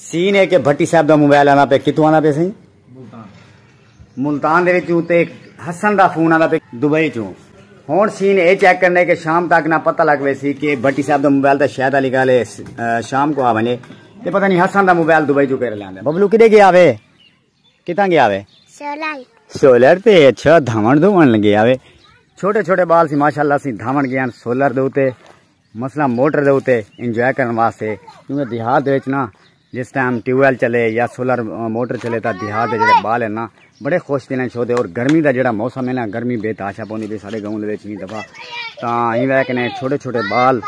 scene ہے کہ بھٹی صاحب دا موبائل آندا پے کتھوں آندا پے سائیں ملتان ملتان دے وچوں تے حسن دا فون آندا پے دبئی چوں ہن سین اے چیک کرنے کہ شام تک نہ پتہ لگ وے سی کہ بھٹی صاحب دا موبائل تے شاید علی گل شام کو آ ونجے تے پتہ نہیں حسن دا موبائل دبئی چوں کیرے لاندا ببلو کدے گیا وے کتھاں گیا وے سولر سولر تے اچھا دھاون دھون گیا وے چھوٹے چھوٹے بال سی ماشاءاللہ سی دھاون گیا سولر دے اوتے مثلا موٹر دے اوتے انجوائے کرن واسطے کیونکہ دیہات دے وچ نا جس ٹائم ٹیوب ویل چلے یا سولر موٹر چلے تا دیہات دے جڑے بال ہیں نا بڑے خوش تھی لیں چھوتے اور گرمی دا جڑا موسم ہے نا گرمی بے تاشا پوندی بھی سارے گاؤں دے وچ ہی دفعہ تا ہی وے کنے چھوٹے چھوٹے بال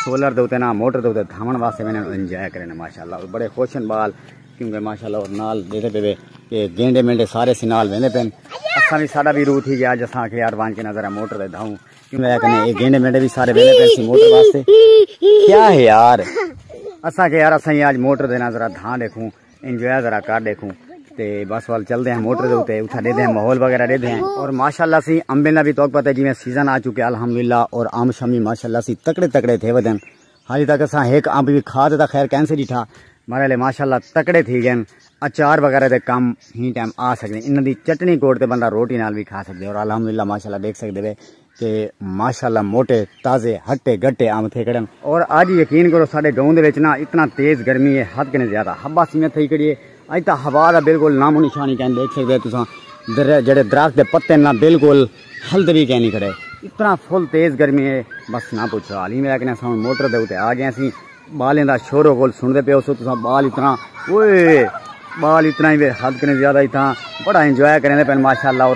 سولر دے اوتے نا موٹر دے اوتے دھاون واسطے میں انجوائے کرن ماشاءاللہ بڑے خوش ہیں بال کیونکہ ماشاءاللہ اور نال دیتے پہ بے کہ گینڈے مینڈے سارے سی نال ویندے پین اساں بھی ساڈا بھی روح تھی گیا اج اساں کہ یار وان کے نظر ہے موٹر دے دھاؤں کیوں ہے کنے اے گینڈے مینڈے بھی سارے ویندے پین سی موٹر واسطے کیا ہے یار اساں کہ یار اساں اج موٹر دے نظر دھاں دیکھوں انجوائے ذرا کر دیکھوں تے بس وال چل دے ہیں موٹر دے اوتے اتھا دے دے ہیں ماحول وغیرہ دے دے ہیں اور ماشاءاللہ سی امبے نہ بھی توک پتہ جی میں سیزن آ چکے الحمدللہ اور آم شامی ماشاءاللہ سی تکڑے تکڑے تھے ودن ہالی تک اساں ہک امب وی کھا تے تاں خیر کین سے ڈٹھا مارے لے ماشاءاللہ تکڑے تھی گئن اچار وغیرہ دے کم ہی ٹائم آ سکدے انہاں دی چٹنی کوٹ تے بندہ روٹی نال وی کھا سکدے اور الحمدللہ ماشاءاللہ دیکھ سکدے وے کہ ماشاءاللہ موٹے تازے ہٹے گٹے امب تھے کڑن اور اج یقین کرو ساڈے گاؤں دے وچ نا اتنا تیز گرمی ہے حد کنے زیادہ ہبا سیاں تھئی کڑی ہے اج تاں ہوا دا بالکل نام و نشان ہی کین دیکھ سکدے تساں جڑے درخت دے پتے نہ بالکل ہلد وی کینی کھڑے اتنا فل تیز گرمی ہے بس نہ پوچھو حال ہی میرا کنے اساں موٹر دے اوتے آ گئے سی بالیں دا شور و گول سن دے پے اوسو تساں بال اتنا اوئے بال اتنا ہی حد کنے زیادہ ہی تھا بڑا انجوائے کرنے پے ماشاءاللہ اور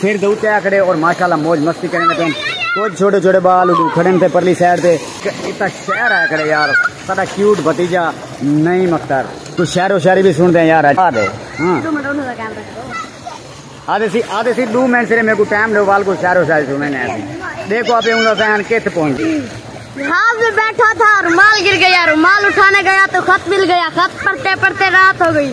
سر دے اتے آکھڑے اور ماشاءاللہ موج مستی کریں دے پین کچھ چھوٹے چھوٹے بال اڈو کھڑن تھے پرلی سائیڈ تے اتا شہر آیا کھڑے یار ساڈا کیوٹ بھتیجا نہیں مختار تو شہر و شہری بھی سن دے یار آ دے ہاں آدھے سی آدھے سی دو منٹ سرے میرے کو ٹائم لو وال کو شہر و شہری سن میں نے دیکھو آپ اوندا سہن کتھ پہنچ ہاں میں بیٹھا تھا رومال گر گیا رومال اٹھانے گیا تو خط مل گیا خط پڑھتے پڑھتے رات ہو گئی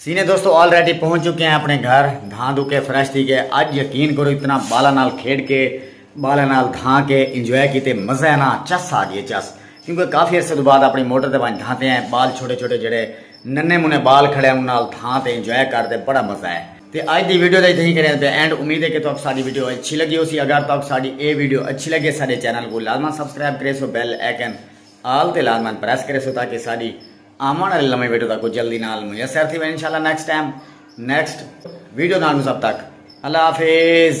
سینے دوستو آلریڈی پہنچ چکے ہیں اپنے گھر دھان دو کے فریش تھی گئے اج یقین کرو اتنا بالا نال کھیڑ کے بالا نال دھان کے انجوائے کیتے مزہ ہے نا چس آ گئے چس کیونکہ کافی عرصے تو بعد اپنی موٹر تے ونج دھانتے ہیں بال چھوٹے چھوٹے جڑے ننے منے بال کھڑے ہیں انہاں دھان تے انجوائے کر دے بڑا مزہ ہے تے اج دی ویڈیو دا اتنی کریں تے اینڈ امید ہے کہ تو ساری ویڈیو اچھی لگی ہو سی اگر تو ساری اے ویڈیو اچھی لگے سارے چینل کو لازمان سبسکرائب کرے سو بیل ایکن آل تے لازمان پریس کرے سو تاکہ ساری آوݨ آلی نویں ویڈیو تکوں جلدی نال میسر تھی ویندی انشاءاللہ نیکسٹ ٹائم نیکسٹ ویڈیو نال تساں تک اللہ حافظ